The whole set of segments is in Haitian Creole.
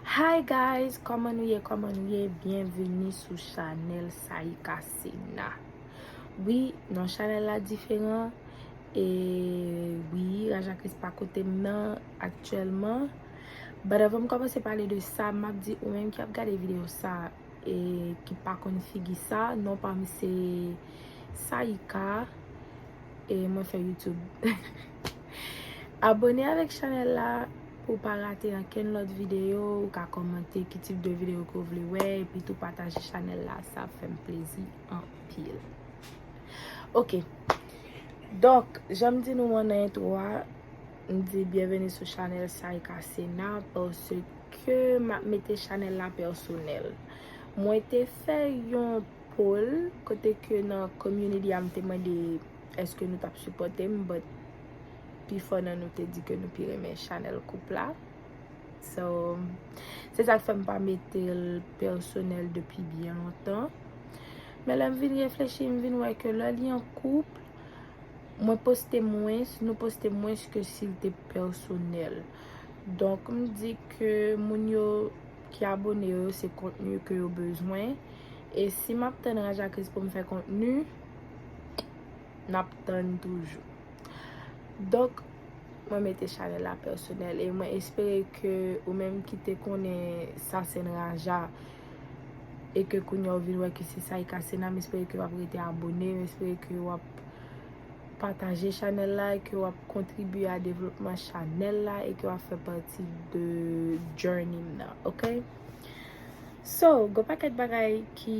Hi guys koman nou ye koman nou ye byenveni sou chanel Saïca Sena wi non chanel la diferan e wi Raja Kris pa kotem nan aktyèlman but avanm komanse pale de sa map di ou menm ki ap gade video sa e ki pa konn figi sa non pam se Saïca e mwen fè YouTube. Abone avèk chanèl la pou pa rate ankenn lòt videyo, ou ka kòmante ki tip de videyo ke w vle wè, epi tou pataje chanèl la, sa ap fè m plezi anpil. Ok, donk, jan m di nou an nan entwo a, m di byenveni sou chanèl Saïca Sena, pase ke m ap mete chanèl la pèsonèl. Mwen te fè yon poll, kote ke nan community a m te mande. Eske nou tap sipòtem but pifò nan nou te di ke nou pi renmen chanèl koup la so se sak fèm pa metel pèsonèl depi byen lontan men lèm vin reflechi m vin wè ke lè li an koup mwen poste mwens nou poste mwens ke sil te pèsonèl donk m di ke moun yo ki abone yo se kontni ke yo bezwen e si map tann raja kris poum fè kontni. Nap tann toujou. Donk, mwen mete chanèl la pèsonèl e mwen espere ke ou menm ki te konnen Sasen Raja e ke kounye a ou vin wè ke se Saïka Sena, m espere ke w ap rete abone, m espere ke w ap pataje chanèl la, ke w ap kontribye a devlopman chanèl la e ke w ap fè pati de journey m nan, ok? So, gon pakèt bagay ki.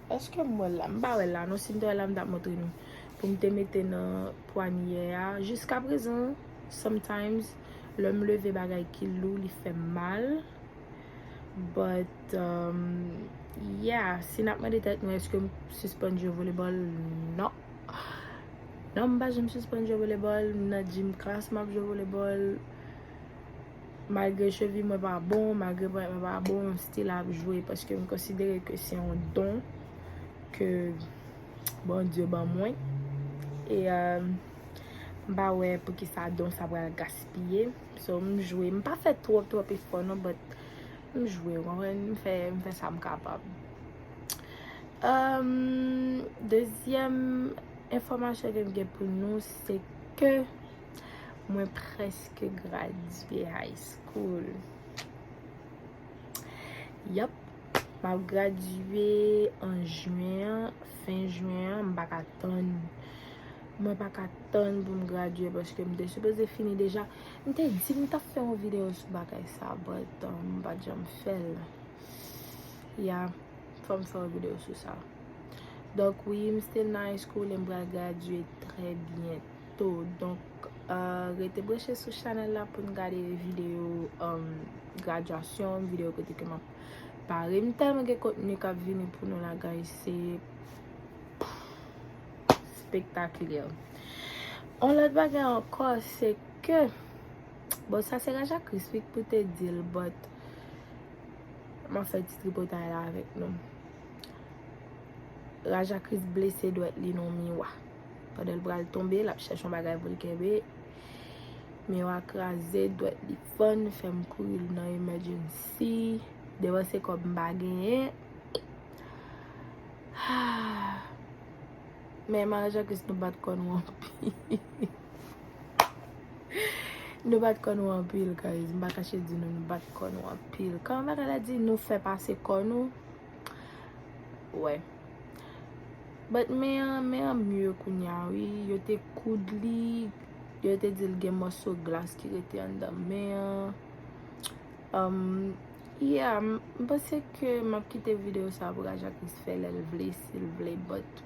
Eske m wèl la? M pa wèl la non sim te wèl la m tap montre nou poum te mete nan pwanyè a jiska prezan sometimes lèm leve bagay ki lou li fèm mal but yeah si nap mande tèt nou eske m sispann jwe volebòl non non m pa janm sispann jwe volebòl m nan gym class map jwe volebòl. Malgre chevi mwen pa bon, malgre ponyèt mwen pa bon, m still ap jwe paske m konsidere ke se yon don ke Bondye ban mwen. E m pa wè poukisa don sa pral gaspiye. So m jwe. M pa fè twòp twòp efò non but m jwe ou konprann. M fè m fè sa m kapab. Dezyèm enfòmasyon ke m gen pou nou se ke Mwen preske gradye high school. Yap, m ap gradye an juen, fen juen, m pa ka tann. Mwen pa ka tann pou m gradye paske m te sipoze fini deja. M te di m ta fè yon video sou bagay sa but m pa t janm fè l. Ya, fò m fè yon video sou sa. Donk wi, m still nan high school e m pral gradye trè byento. tou donk rete branche sou chanèl la poun gade video graduasyon video kote ke map pare m tèlman gen kontni kap vini pou nou la guys se spectaculaire yon lòt bagay ankò se ke bon sa se raja kris wi ki pou te dil but map fè ti tripotay la avèk nou raja kris blese dwèt li nan miwa Pandan l pral tonbe, l ap chèche yon bagay pou l kenbe. Mi yo a kraze, dwèt li fann, fè m kouri l nan emèjènsi. Depanse kòb m pa genyen. Men Mari Jankis nou bat kò nou anpil. Nou bat kò nou anpil guys. M pa kache di nou nou bat kò nou anpil. Kòman bagay la di nou fè pase kò nou. Wè. But men an, men an mye kounya wi. Yo te koud li. Yo te di l gen mòso glas ki rete anndan men an. Umm, yeah, m panse ke m ap kite videyo sa pou Raja Kriz fè lè l vle, si l vle, but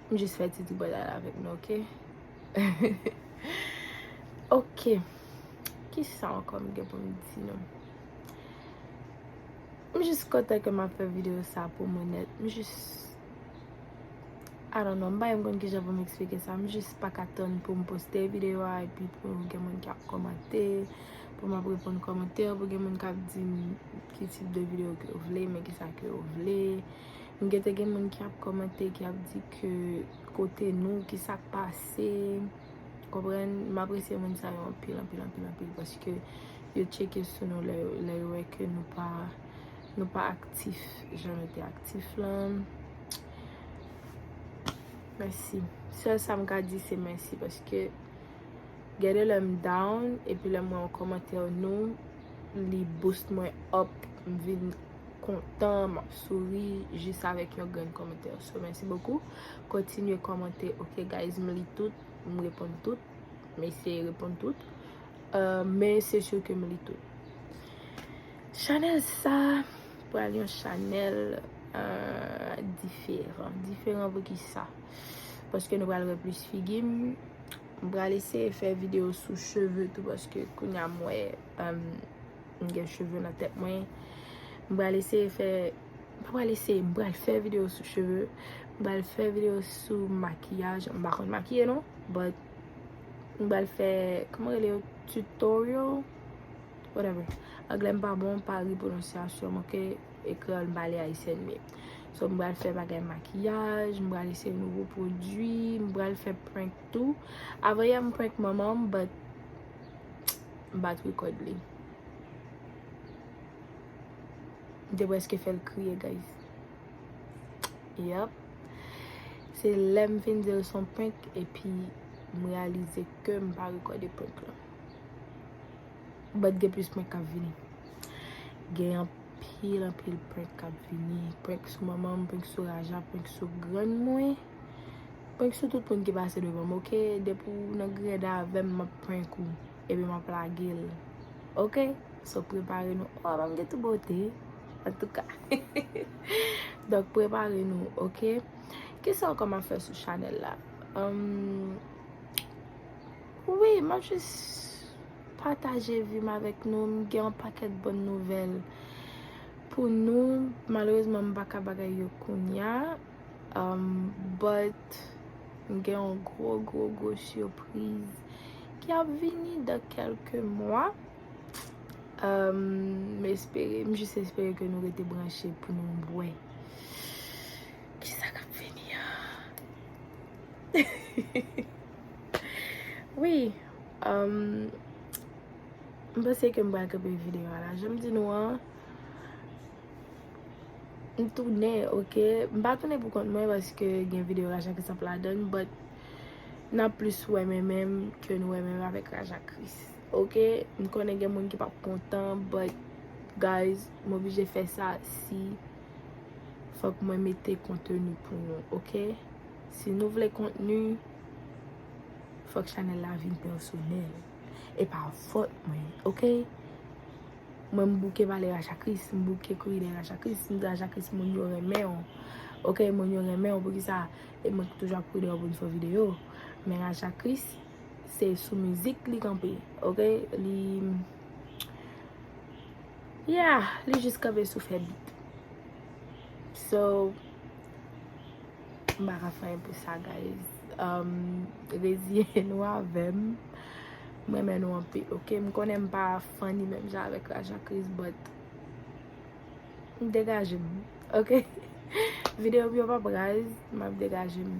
m jis fè ti tripotay la avèk nou, ok? Ok. Kisa ankò m gen pou m di nou? M jis kontan ke m ap fè videyo sa pou mwen nèt. M jis I don't know, m pa menm konn kijan pou m eksplike sa. M jis pa ka tann pou m poste videyo a epi pou gen moun ki ap kòmante, pou m ap reponn kòmantè, pou gen moun k ap di m ki tip de videyo ke yo vle, men kisa ke yo vle. M gen te gen moun ki ap kòmante, ki ap di ke kote nou, kisa k pase. Konprann? M apresye moun sa yo anpil, anpil, anpil, anpil paske yo tcheke sou nou lè yo wè ke nou pa nou pa aktif jan nou te aktif lan. Mèsi. Sèl sa m ka di se mèsi paske gen de lè m down epi lè m wè yon kòmantè nou li boost mwen up m vin kontan, map souri jis avèk yon grenn kòmantè. So mèsi bokou. Kontinye kòmante ok guys m li tout, m reponn tout. M eseye reponn tout. Men se sur ke m li tout. Chanèl sa pral yon chanèl diferan. Diferan pou ki sa? Paske nou pral wè plis figi m. M pral eseye fè videyo sou cheve tou paske kounya m wè. M gen cheve nan tèt mwen. M pral eseye fè, m pa pral eseye, m pral fè videyo sou cheve. M pral fè videyo sou makiyaj. M pa konn makiye non. But, m pral fè, kouman rele yo? Tutorial? Whatever. Anglè m pa bon, pa ri pwononsyasyon m, ok? E kreyòl m pale ayisyèn byen. So, m pral fè bagay makiyaj, m pral eseye nouvo pwodui, m pral fè prank tou. Avanyè m prank manman m, but. M bat record li. M te preske fè l kriye guys. Yep. Se lè m fin di l son prank epi m realize ke m pa record prank lan. But gen plis prank kap vini. Gen anpil anpil prank kap vini. Prank sou manman m, prank sou Raja, prank sou grann mwen. Prank sou tout moun ki pase devanm ok depi ou nan gred avèm map prank ou epi map lagel ok so prepare nou oh banm gen tout bote antouka donk prepare nou ok kisa ankò map fè sou chanèl la humm wi map jis pataje vim avèk nou m gen yon pakèt bon nouvèl pou nou malerezman m paka bagay yo kounya. But m gen yon gwo gwo gwo surprise ki ap vini dans quelques mois M espere, m jis espere ke nou rete branche pou nou wè kisa kap vini an Wi M panse ke m pral kanpe video a la, janm di nou an. M tounen ok, m pa tounen pou kont mwen paske gen video Raja Chris ap ladann but nap plis wè mè mè m ke nou wè mè mè avèk Raja Chris ok, m konnen gen moun ki pap kontan but guys m oblije fè sa si fòk mwen mete konteni pou nou ok, si nou vle kontni fòk chanèl la vin pèsonèl e pa fòt mwen ok. Mwen m bouke pale ajakris, m bouke kouri dèyè ajakris, m di ajakris moun yo renmen w, ok moun yo renmen w poukisa e mwen ki toujou ap kouri dèyè w pou n fè w videyo, men ajakris se sou mizik li kanpe ok, li yeah li jis kanpe sou fè bit so m pa ka fè anyen pou sa guys reziyen nou avè m, m renmen nou anpil ok, m konnen m pa. Funny menm jan avèk la jacqueries but m degajem ok video m yo pap raz map degajem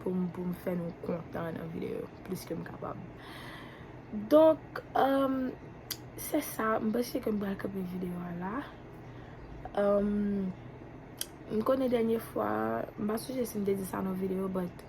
pou m pou m fè nou kontan nan video yo plis ke m kapab donk emm se sa m panse ke m pral kanpe video a la emm m konnen dènye fwa m pa sonje si m te di sa nan video but.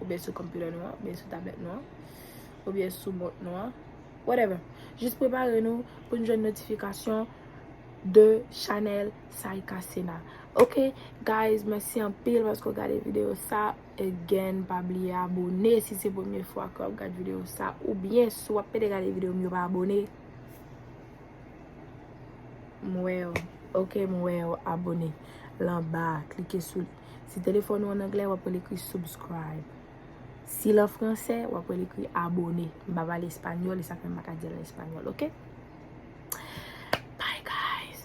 oubyen sou computer nou an, oubyen sou tablet nou an, oubyen sou mont nou an, whatever. Jis prepare nou pou nou jwenn notifikasyon de chanèl Saïca Sena. Ok guys, mèsi anpil paske ou gade video sa. Again, pa bliye abone si se premye fwa ke wap gade video sa. Oubyen si wap pede gade video m yo pa abone, m wè yo, ok, m wè yo abone. Lan ba, klike sou li. Si telefòn ou an anglè, wap rele ekri subscribe. Si l an fransè, wap rele ekri abone. M pa pale espanyòl, e sa fè m pa ka di l an espanyòl, ok? Bye guys!